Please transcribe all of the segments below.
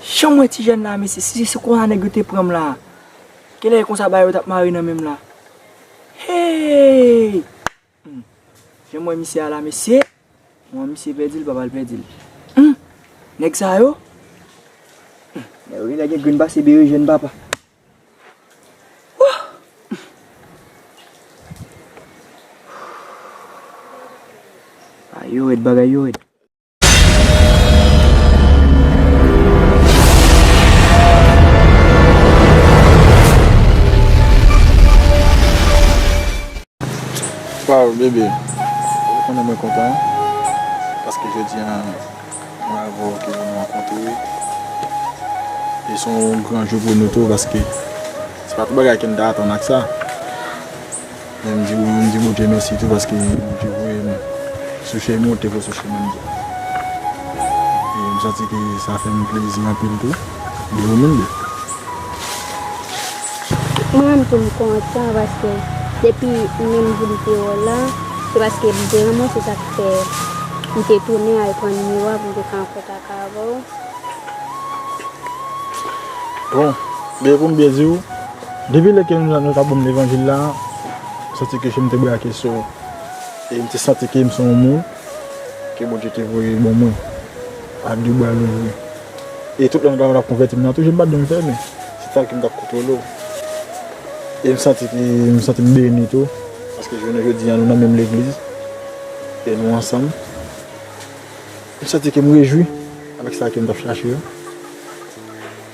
Janm wè ti jèn la mesye si se konsa nèg yo te pranm la kilè e konsa bagay yo tap mare nan menm la heeyy humm janm wè misye a la mesye m wè misye pèdi l pap al pèdi l humm nèg sa yo humm nèg yo genlè gen grenn pase berejèn papa wouhh humm bagay yo rèd bagay yo rèd. Waw bebe ou konnen mwen kontan paske jodi an mwen avè w te vin rankontre e son w gran jou pou nou tou paske se pa tout bagay ke m ta atann ak sa. Lè m di wi m di Bondye mèsi tou paske Bondye voye m sou chemen ou te vle sou chemen m tou. E m santi ke sa fè m plezi anpil tou de ou menm tou. Mwen menm tou m kontan paske depi m menm vin Pirol la se paske m te renmen w se sa k fè m te tounen al pran nimewo a pou m te ka an kontak avè w. Bon, gen pou m byen di w. Depi lè ke yo tap banm levanjil la, m santi ke je m te brake sou ou, e m te santi ke m se yon moun ke Bondye te voye ban mwen ak 2 bra louvri. E tout lè nou tap konvèti m nan tou je m pat janm fèmen, se tanke m tap kontwole w. E m santi ke m santi m beni tou, paske jounen jodi a nou nan menm legliz, e nou ansanm. M santi ke m rejwi avèk sa ke m tap chache yo.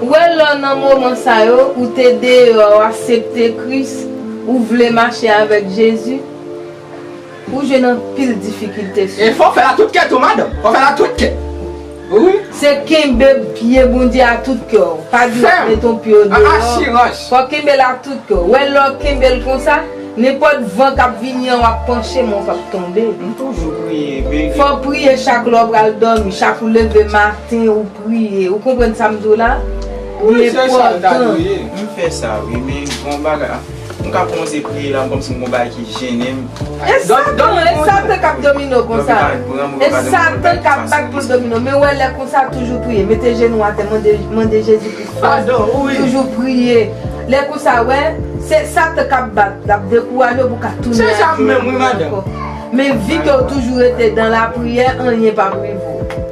Ou wè lò nan moman sa yo ou te deyò ou asepte Kris ou vle mache avèk Jezi ou jwenn anpil difikilte sou. E fò w fè l a tout kè tou madanm, fò w fè l a tout kè wi. Se kenbe pye Bondye a tout kè w, pa di w ap mete yon pye w deyò, fò w kenbe l a tout kè w, wè lè w kenbe l konsa, Nenpòt van kap vini an wap panche men ou pap tonbe. M toujou priye baby. Fòw priye chak lè w pral dòmi, chak ou leve maten ou priye ou konprann sa m di w la? Li enpòtan. M fè sa wi men bon bagay ah m ka kòmanse priye la kòmsi m gon bagay ki jennen m. E satan, e satan kap domine w konsa. E satan kap bat pou l domine w men wè lè konsa toujou priye mete jenou atè mande Jezi pou. Fado ui. Toujou priye. Lè konsa wè Se satan kap bat lap dekouraje w pou ka tounen ak Jezi menm wi madanm. Men vi kew toujou rete dan la priyè anyen pap rive w.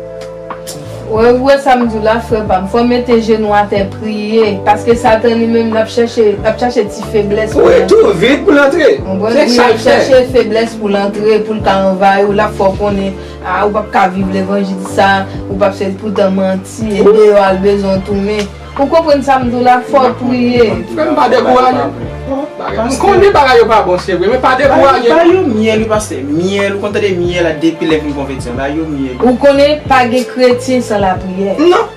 Ou wè sam diw la frè pam fò mete jenou atè priye paske satan li menm lap chèche lap chache ti feblès pou Wi tou vit poul antre se sal fè. Lap chache feblès poul antre poul ka anvayi w lap fè w konnen. Ah ou pap ka viv levanjil sa, ou pap sèl poutan manti, e deyò al bezwen w tounen. Ou konprann sa m di w la, fò w priye. Frè m pa dekouraje. M konnen bagay yo pa bon se vre, men pa dekouraje non. Ba yo myèl wi pastè, myèl ou konn tande myèl a depi lè vin konvèti an, ba yo myèl. Ou konnen pa gen kretyen san lapriyè. Non,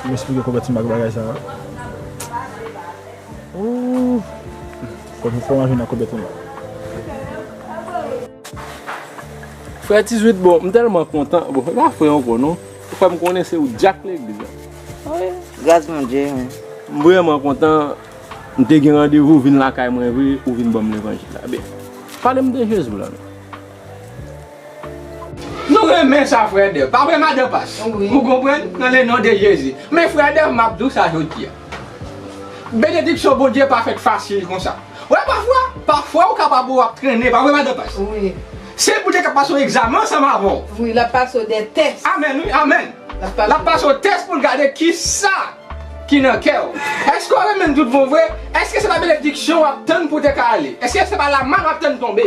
Pou m esplike konvèti m ak bagay sa a. Ooh! Fò fò m avin nan konvèti m nan. Frè Ti Zwit bon, m tèlman kontan. Bon, e pa frè ankò non. Ou fè m konnen se ou dyak legliz la. Ah wi, gras Bondye wi. M vrèman kontan. M te gen randevou vin lakay mwen vre, ou vin ban m levanjil la. Pale m de Jezi w la non. Nou renmen sa frè Dev pa vre madan pas ou konprann nan le non de Jezi men frè Dev map diw sa jodi a benediksyon Bondye pa fèt fasil konsa wè pafwa pafwa ou kapab ou ap trennen pa vre madan pas se Bondye kap pase w egzamen ansanm avèw wi lap pase w de tès amèn wi amèn lap pase w tès poul gade kisa ki nan kèw èske w renmenl tout bon vre èske se pa benediksyon wap tann pou te ka ale èske se pa lamann wap tann tonbe.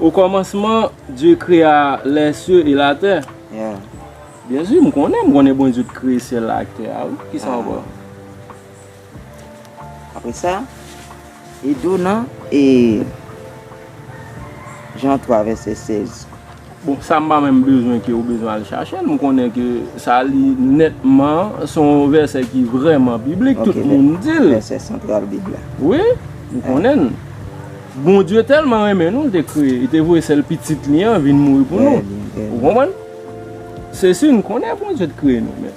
O kòmansman, Dye krea lè sye e la tè. Byen si, m konnen, m konnen Bondye te kreye syèl la ak tè a wi. Ki sa ankò? Apre sa, e dou nan e Jan 3 vèsè 16. Bon sa m pa menm bezwen ke ou bezwen al chache l, m konnen ke sa li nètman se yon vèsè ki vrèman biblik, tout moun di l. Vèsè santral bib la. Wi, m konnen l. Bondye tèlman renmen nou, l te kreye, li te voye sèl pitit li an vin mouri pou nou. Ou konprann? Se si n konnen Bondye te kreye nou men.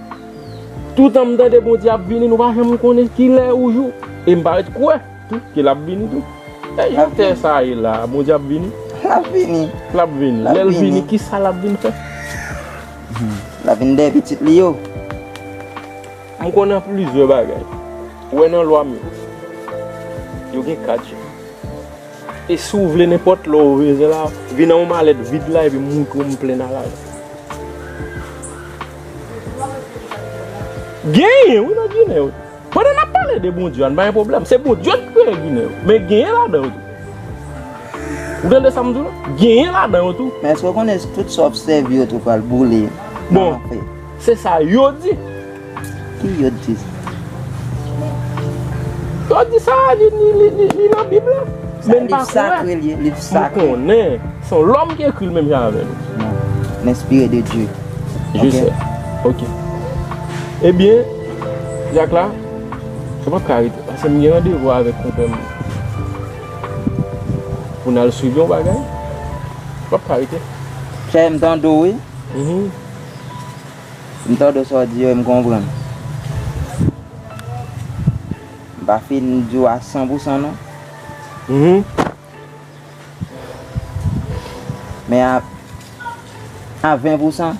Toutan m tande Bondye ap vini nou pa janm konnen kilè ou jou e m pa ret kwè tou ke lap vini tou. E jan tè sa ye la a Bondye ap vini? Lap vini. Lap vini. Lap vini. Lèl vini kisa lap vin fè? Lap vin dèyè pitit li yo. M konnen plizyè bagay. Ou wè nan lwa m yo? Yo gen 4 jan. E si w vle nenpòt lè ou vle vin an yon malèt vid la epi m moutrew m plen nan lajan. Genyen wi nan ginen yo. Pandan nap pale de bondye an pa gen pwoblèm. Se bondye ki kreye ginen yo. Men genyen ladan yo tou. Ou tande sa m di w la? Genyen ladan yo tou. Men eske w konnen tout sa w obsève yo tou pral boule nan lanfè? Bon, se sa yo di. Ki yo di sa? Yo di sa li nan bib la. Men m pa kwè. Sa liv sakre li. M konnen. Son lòm ki ekri l menm jan avè nou. Nan. L enspire de Dye. Je sè. Ok. Ebyen, Jack la, mwen pap ka rete. Pase mwen gen randevou avèk konpè mwen. Pou nan swiv yon bagay. Mwen pap ka rete. Chè, mwen tande ou wi. Mwen tande sa ou di yo e mwen konprann. Mwen pa fin di ou a 100% non. Mwen. Men a 20 pousan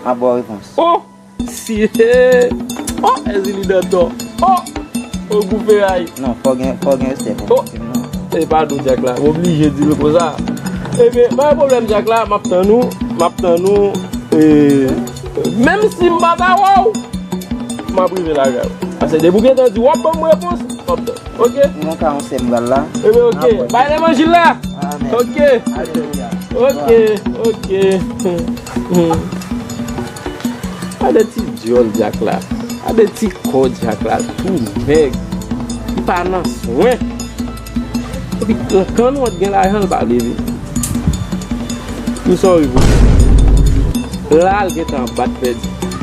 map baw repons. Oh! Siee! Oh Èzili Dantò! Oh! Oh gou feray! Non, fò gen respè pou mwen menm non. E pa nou Dyak la, m oblije di nou konsa. E byen, pa gen pwoblèm Dyak la, map tann ou, map tann ou e menm si m pa ta wè w, map rive lakay ou. Ase depi ou gentan di wap banm repons, map tann. Ok. Mwen gen ka yon sè m pral la. Ebyen ok. Bay levanjil la. Amen. Ok. Alelouya. Ok. Ok. Gade ti dyòl Dyak la. Gade ti kò Dyak la tou mèg. Li pa nan swen. Epi nan kan nou an gen lajan l pa vle vini. Msòri pou li. La l gen tan bat pèdi.